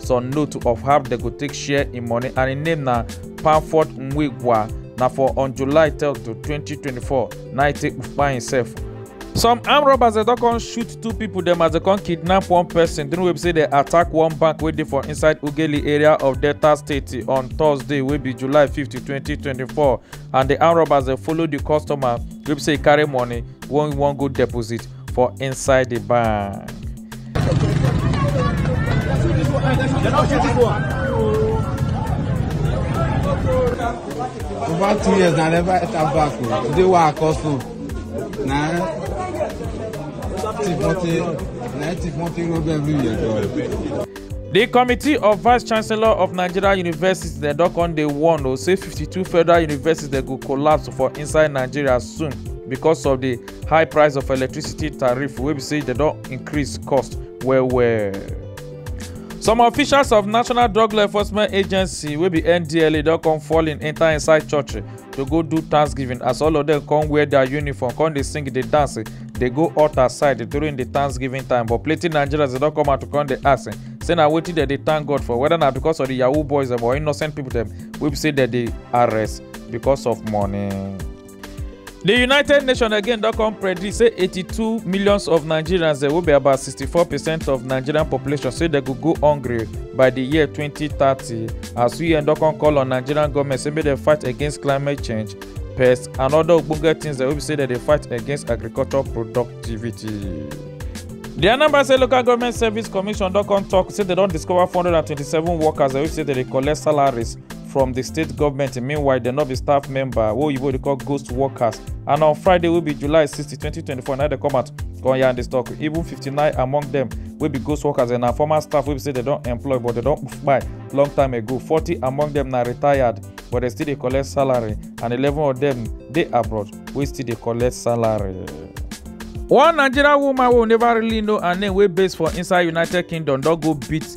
some note of how dem go take share im money and im name na panford nwigwa na for on july 3 to 2024 na e take kpupa imsef some armed robbers dem don come shoot two pipo dem as dem come kidnap one pesin during wey be say dem attack one bank wey dey for inside ughelli area of delta state on thursday wey be july 50 2024 and di armed robbers dem follow di customer wey be say e carry money wey wan go deposit for inside the bank. Over two years, I never enter back. oh. Today, why I call so? Nah, tip money, nah, tip money road every year. though. di committee of vice chancellor of nigeria universities dem don come dey warn o say 52 federal universities dem go collapse for inside nigeria soon because of di high price of electricity tariff wey be say dem don increase cost well well. some officials of national drug law enforcement agency wey be ndla don come fall in enter inside church to go do thanksgiving as all of them come wear their uniform come dey sing dey dance dey go altar side during the thanksgiving time but plenty nigerians dey don come out to come dey ask say na wetin dem dey thank god for whether na because of the yahoo boys dem or innocent people dem wey be say dem dey arrest because of money. di united nations again don come predict say 82 millions of nigerians dem wey be about 64 percent of nigerian population say dem go go hungry by di year 2030 as un don come call on nigerian goment say make dem fight against climate change pests and oda ogbonge tins dem wey be say dem dey fight against agriculture productivity. di anambra state local government service commission don come tok say dem don discover 427 workers wey be say dem dey collect salaries from di state goment meanwhile dem no be staff member wey oyibo dey call ghost workers and on friday wey be july 60 2024 na dem come out come yarn dis tok even 59 among dem wey be ghost workers and na former staff wey be say dem don employ but dem don kpai long time ago 40 among dem na retired but dem still dey collect salary and 11 of dem dey abroad wey still dey collect salary. one nigerian woman wey we neva really know her name wey base for inside united kingdom don go beat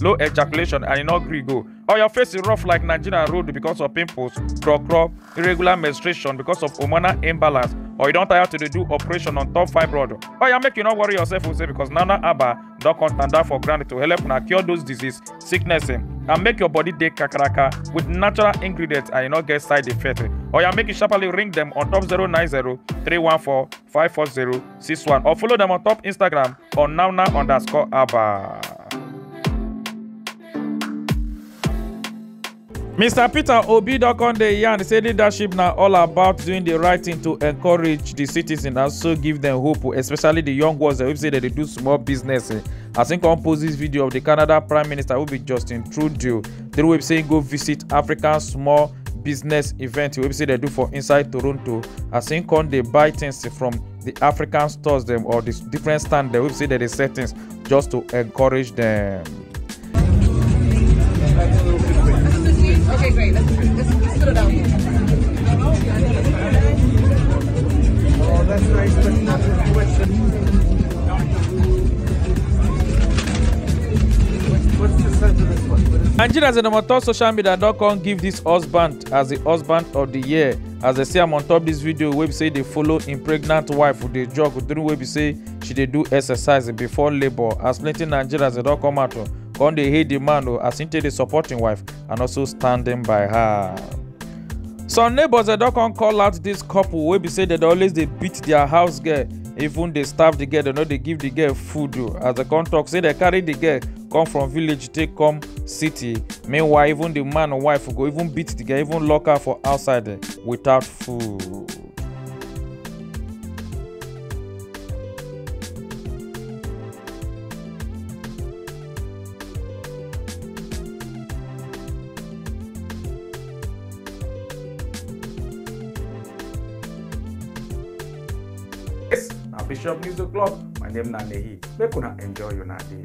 low ejaculation and e no gree go or your face is rough like nigerian road because of pimples craw craw irregular menstruation because of hormonal imbalance or you don tire to dey do operation on top fibroid or ya make you no worry yourself o say because nana aba don come stand down for ground to help una cure those disease sickness eh, and make your body dey kakaraka with natural ingredients and e no get side effect eh. or ya make you sharply ring dem on top 090 314 54061 or follow them on top Instagram on nownow underscore abba. Mr. Peter Obi don come dey yarn say leadership na all about doing the right thing to encourage the citizens and also give them hope especially the young ones wey be say dem dey do small business eh. as im come post this video of the Canada Prime Minister wey be Justin Trudeau the way be say im go visit African small business event wey be say dem do for inside toronto as im come dey buy things from the african stores dem or the different stand dem wey be say dem dey sell things just to encourage dem. Okay, great. Let's, let's, let's put it down. Oh, that's nice. That's not nigerians and omoto social media don come give dis husband as di husband of di year as dem see am on top dis video wey be say dey follow im pregnant wife who dey jog during wey be say she dey do exercise before labour as plenty nigerians dey don come out o come dey hail di man o as im take dey support im wife and also standing by her. some neighbours dem don come call out dis couple wey be say dem dey always dey beat dia house girl even dey starve the girl dem no dey give the girl food o as dem come talk say dem carry the girl come from village take come city meanwhile even the man and wife go even beat the girl even lock her for outside eh, without food. Yes, na Bishop News O'Clock. My name na Nehi. Make una enjoy una day.